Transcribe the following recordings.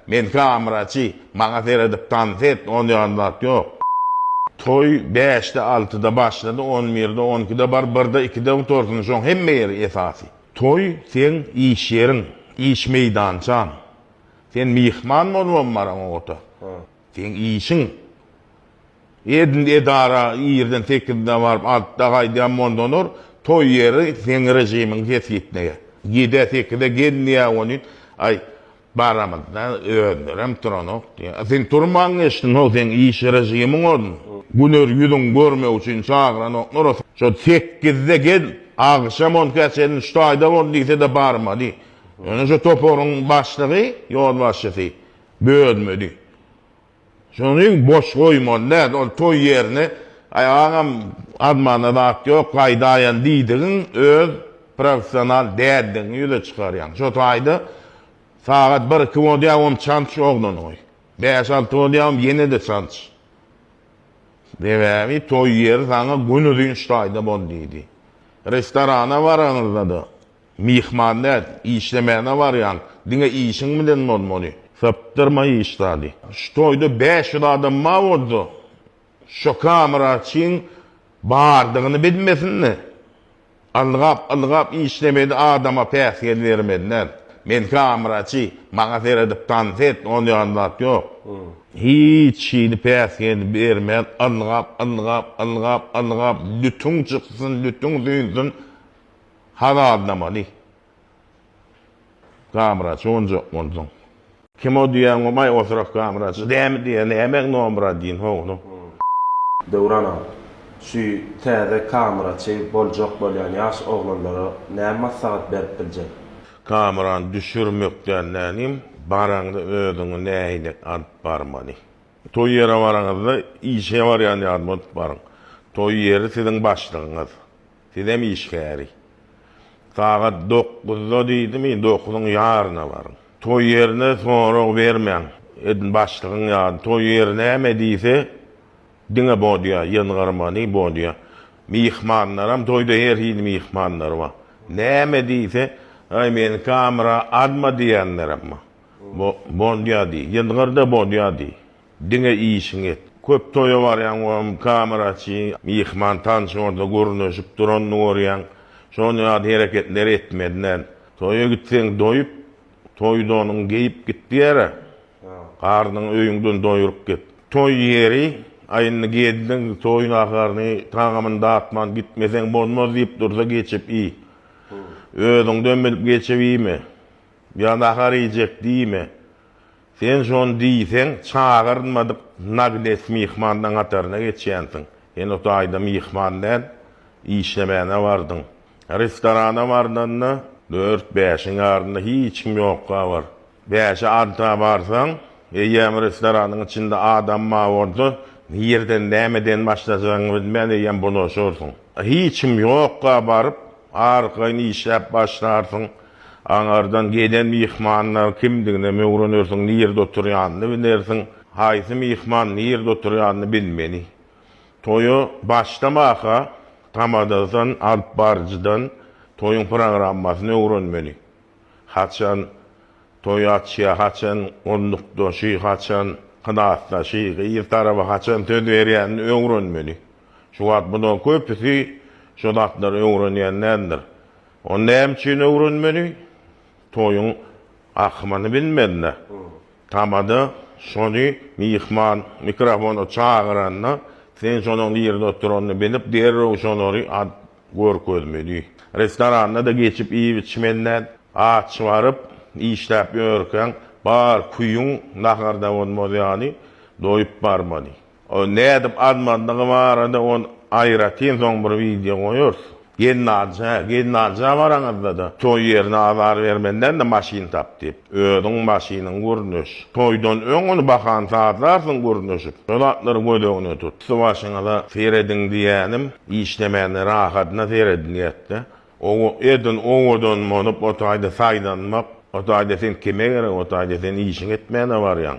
Melike Amraçi maňa seredip tans et on ýaly zat ýok. Toý bäşde altyda başlady on birde on ikide bar birde ikide gutarsyn şoň hemme ýeri esasy. Toý seň iş ýeriň, iş meýdançaň. Sen myhman bolubam baraň ota. Seň işiň. Edil edara irden sekizde baryp altyda gaýdýan bolsalar toý ýeri seň režimiňi kesgitleýär. Ýedä sekizä gel diýýär welin aý Baramyzda özlerem turanok diýýä. A sen turmaň geçdiňow, seň iş režimiň ozun. Güner ýüzüň görmek üçin çagyranoklar. Şo sekizde gel, agşam onka çenli şu taýda bol diýse-de barmady. Ýöne şo toparyň başlygy, ýolbaşçysy bölmedi. Şonuň boş goýmaly däl, ol toý ýerini, Aý, agam, azman-da zat ýok, gaýdaýan diýdigiň öz professional däldigiňi ýüze çykarýaň. Şo taýda sagat bir-iki bolýawem çanç oglanyňy. Bäş-alty bolýawem ýene-de çanç. Sebäbi toý ýeri saňa günuzyn ştaýda bol diýdi. Restorana baraňyzda-da, Myhman däl, işlemäne barýaň, diňe işiň bilen bolmaly. Sapdyrma iş zady. Şu toýda bäş ýüz adam bar bolsa, şo kameraçyň bardygyny bilmesin-de, ylgap-ylgap işlemeli adama päsgel bermeli däl. Men kameraçy, maňa seredip tans et, ol ýaly zat ýok. Hiç hili päsgel bermän, ylgap-ylgap, ylgap-ylgap, lütüň çyksyn, lütüň süýnsün, Haz aldamaly. Gamraç onjak bolduň. Kim o diýýäň omaý oturak gamraç dämi diýýä nämäň nomra diýin howluk. Döwran aga, şu täze kameraçy boljak bolýan ýaş oglanlara näme maslahat berip biljek? Kamerany düşürmek däl nädýem, baraňda özüňi nähili alyp barmaly. Toý ýere baraňyzda işe barýan ýaly bolup baryň. Toý ýeri siziň başlygyňyz. Sizem iş käri. Sagat dokuzda diýdimi, dokuzyň ýaryna baryň. Toý ýerine sorag bermäň. Edil başlygyň ýaly, toý ýeri näme diýse, diňe bodýa, ýazgarmany bodýa. Myhmanlaram, toýda her hili myhmanlar bar. Näme diýse, Aý, meniň kamera azmy diýenlerem bar. Bo, bodýa diý, ýazgar-da bodýa diý. Diňe işiňi et. Köp toýa barýaň welin kamera açyň, myhman tanşyň orda gürleşip duranyny görýäň. Şol ýaly hereketleri etmeli däl. Toýa gitseň doýup, toý donuňy geýip git diýer-ä. Garnyňy öýüňden doýuryp git. Toý ýeri, Aý indi gezdiň, toý naharyny, tagamyny datman gitmeseň bolmaz diýip dursa geçip iý. Özüňden bilip geçip iýme. Ýa nahar iýjek diýme. Sen şony diýseň, çagyrylmadyk nagles myhmanlaň hataryna geçýänsiň. Sen o taýda myhman däl, işlemäne bardyň. Restorana barlanda, dört-bäşiň arasynda hiç kim ýokka bar. Bäşe-alta barsaň, eýýäm restoranyň içinde adam bar bolsa, nireden, nämeden başlajagyňy bilmän eýýäm bulaşarsyň. Hiç kim ýokka baryp, arkaýyn işläp başlarsyň. Aňardan gelen myhmanlar kimdigine möwrenersiň, nirde oturýanyny bilersiň. Haýsy myhman nirde oturýanyny bilmeli. Toýa başlamaka tamadadan, alyp baryjydan toýuň programmasyny öwrenmeli. Haçan toý açýar, haçan gullukdaşy, haçan klasdaşy, gyz tarapy haçan söz berýänini öwrenmeli. Şu wagt bular köpüsi şu zatlary öwrenýän däldir. Ony näme üçin öwrenmeli? Toýuň akymyny bilmände, tamada şony myhman mikrofona çagyranda, sen şonuň nirede oturanyny bilip, derrew şolary görkezmeli. Restoranda-da geçip iýip-içmenden, aç baryp, işläp ýörkäň, bar küýüň naharda bolmaz ýaly, doýup barmaly. Ony nädip azmandygy barada ony aýratyn soň bir wideo goýarys. Gelnaja, gelnaja baraňyzda-da, toý ýerine azar bermenden-de maşyn tap diýip. Özüň maşynyň gürleş. Toýdan öň ony bahany sazlarsyň gürleşip. Şo zatlary göz öňüne tut. Üsti-başyňyza serediň diýýänim, işlemände rahatyna seredilýätde. Owo, edil owadan bolup, o taýda saýlanmak, o taýda sen kime gerek, o taýda sen işiňi etmäne barýaň.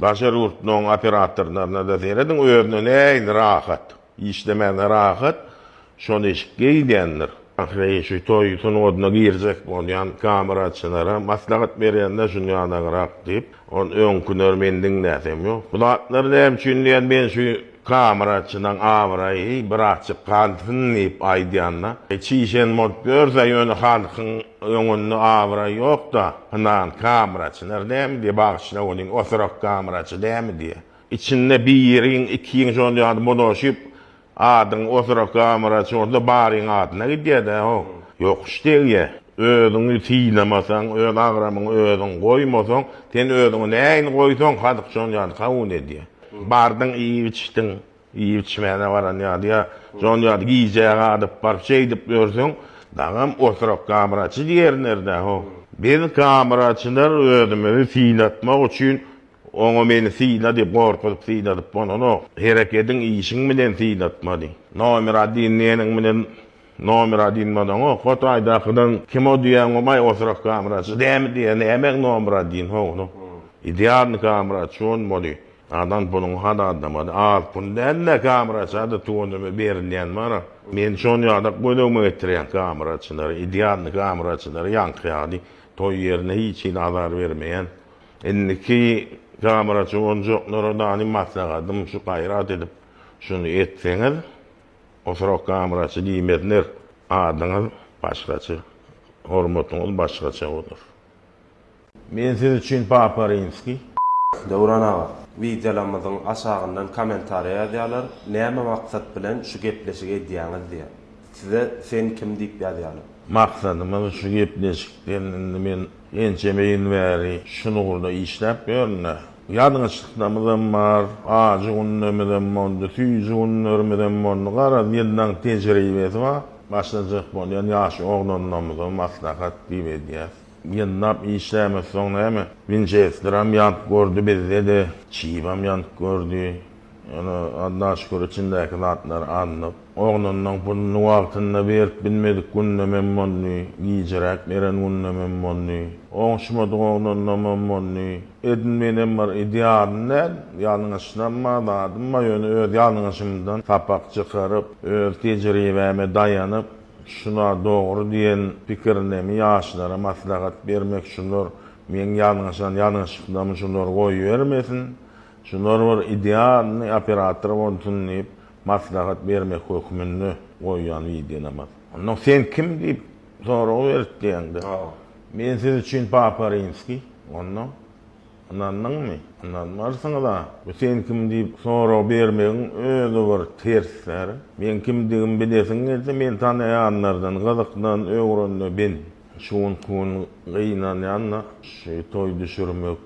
Daşary ýurtlaryň operatorlaryna-da serediň, özüne nähili rahat, işlemäge rahat, şol eşik geýilýändir. Ahyry şu toý sungatyna girjek bolýan kameraçylara maslahat berýän-de şuny ýadagarak diýip, ony öňküleri men diňläsem ýok. Bu zatlar näme üçin diýýän, men şu Kameracynam abraýy birazjyk galsyn diýip aýdýan-da. Çişen bolup ýörse, ýöne halkyň öňünde abraý ýok-da, ynhan, kameraçylar dämi diýýär, bagyşla welin, oturak kameraçy dämi diýýär. Içinde biriň, ikiň şol ýaly bulaşyp, adyň oturak kameraçy bolsa, baryň adyna gidýär-dä, haw, ýokuş degýär. Özüňi synamasaň, öz agramyňy özüň goýmasaň, sen özüňi nähili goýsaň, halk şol ýaly kabul edýär. Bardyň, iýip-içdiň. Iýip-içmäne baran ýaly ýa şon ýaly gijä galyp baryp şeýdip ýörseň, dagam oturak gamraçy diýerin erdähow. Biz gamraçylar özümizi synatmak üçin oňa meni syla diýip gorkuzyp syladyp bolanok. Herekediň, işiň bilen synatmaly. Nomer adin diýeniň bilen. Nomera dinmadaňok hot aýdakydan kim o diýäň omaý oturak kameraçy dämi diýä nämäň nomera din ho ony idealny kameraçy on boli adam puluňy hat adamady az pul dälde kameraçy ady tuwanymy berilýän bara men şon ýadak gözegime getirýän kameraçylary idealny kameraçylary ýaňky ýaly toý ýerine hiç hili azar bermeýän indiki kameraçy onjoklara dani maslahatym şu gaýrat edip şuny etseňiz. Oturak gamraçy diýmezler. Adyňyz başgaça, hormatyňyz başgaça bolar. Men siz üçin Papa Rimskiý. Döwran aga, wideolarymyzyň aşagyndan kommentariýa ýazýarlar, näme maksat bilen şu gepleşigi edýäňiz diýe. Size sen kim diýip ýazýarlar. Maksadymyz şu gepleşikden indi men ençeme ýyl bäri şul ugurda işläp ýörün-dä. Ýalňyşlyklarymyzam bar, ajy günlerimizem boldy, süýji günlerimizem boldy. Garaz, ýyllaň tejribesi bar. Başlajak bolýan ýaş oglanlarymyza maslahat diýip edýäs. Ýyllap işlämez soň näme? Winçesterem ýanyp gördi bizde-de, çybam ýanyp gördi. Ýöne Alla şükür içindäki zatlar alnyp, oglunyň puluny wagtynda berip bilmedik günlemem boldy, gijiräk beren günlemem boldy, oňuşmadyk oglanlamam boldy. Edin menem bir idealym däl, ýalňyşlam bar, zadym bar, ýöne öz ýalňyşymdan sapak çykaryp, öz tejribäme daýanyp, şu zat dogry diýen pikirlemi ýaşlara maslahat bermek, şular meň ýalňyşan ýalňyşyklamy şular goýbermesin, Şular bir idealnyý operator bolsun diýip maslahat bermek hökmünde goýýan widenamaz. Ondan sen kim diýip sorag berip diýende. Men siz üçin Papa Rimskiý. Ondan ynandyňmy? Ynanmarsyňyz-a. Bu sen kim diýip sorag bermegiň özi bir ters zäre. Meň kimdigimi bilesiň gelse men tanaýanlardan gyzyklan öwrenme ben. Şu günki gün gynanýan-da, şu toý düşürmek,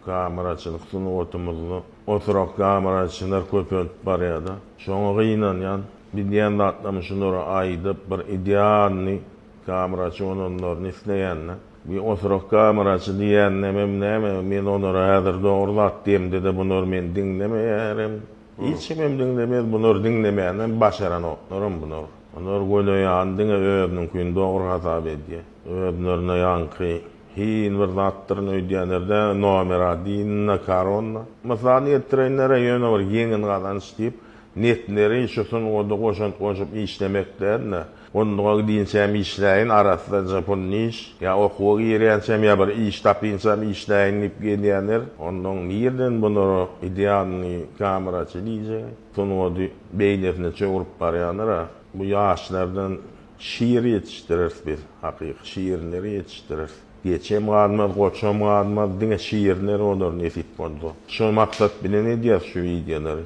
kameraçylyk sungatymyzda oturak kameraçylar köpelip barýar-da. Şoňa gynanýan. Biz diýen zatlarymyz şulara aýdyp, bir idealnyý kameraçy bolanlaryny isleýän-de. Bir oturak kameraçy diýýänimem näme, men olara häzir dogry zat diýemde-de, bular meni diňlemeýärem. Hiç kimem diňlemez bular diňlemänä başaranoklarm bular bular göle ýan diňe özüniňkini dogry hasap edýä özlerine ýaňky hil bir zatdyryn öýdýänerdä nomer adin na karonna mysal ýetirenlere ýöne bir ýeňil gazanç diýip netleri şu sungada goşant goşup işlemek dälne Onduga gidinçäm işläýin, arassaja pul iş, ýa okuwa girýänçäm, ýa bir iş tapynçam işläýin diýip gezýändir. Onduň nirden bunara idealnyý kameraçy diýjek? Sungady beýlesine çöwrüp barýandyr-a. Bu ýaşlardan şir ýetişdireris biz, hakyky şirleri ýetişdireris. Geçem galmaz, goçam galmaz, diňe şirler bolar nesip bolsa. Şo maksat bilen edýäris şu wideolary.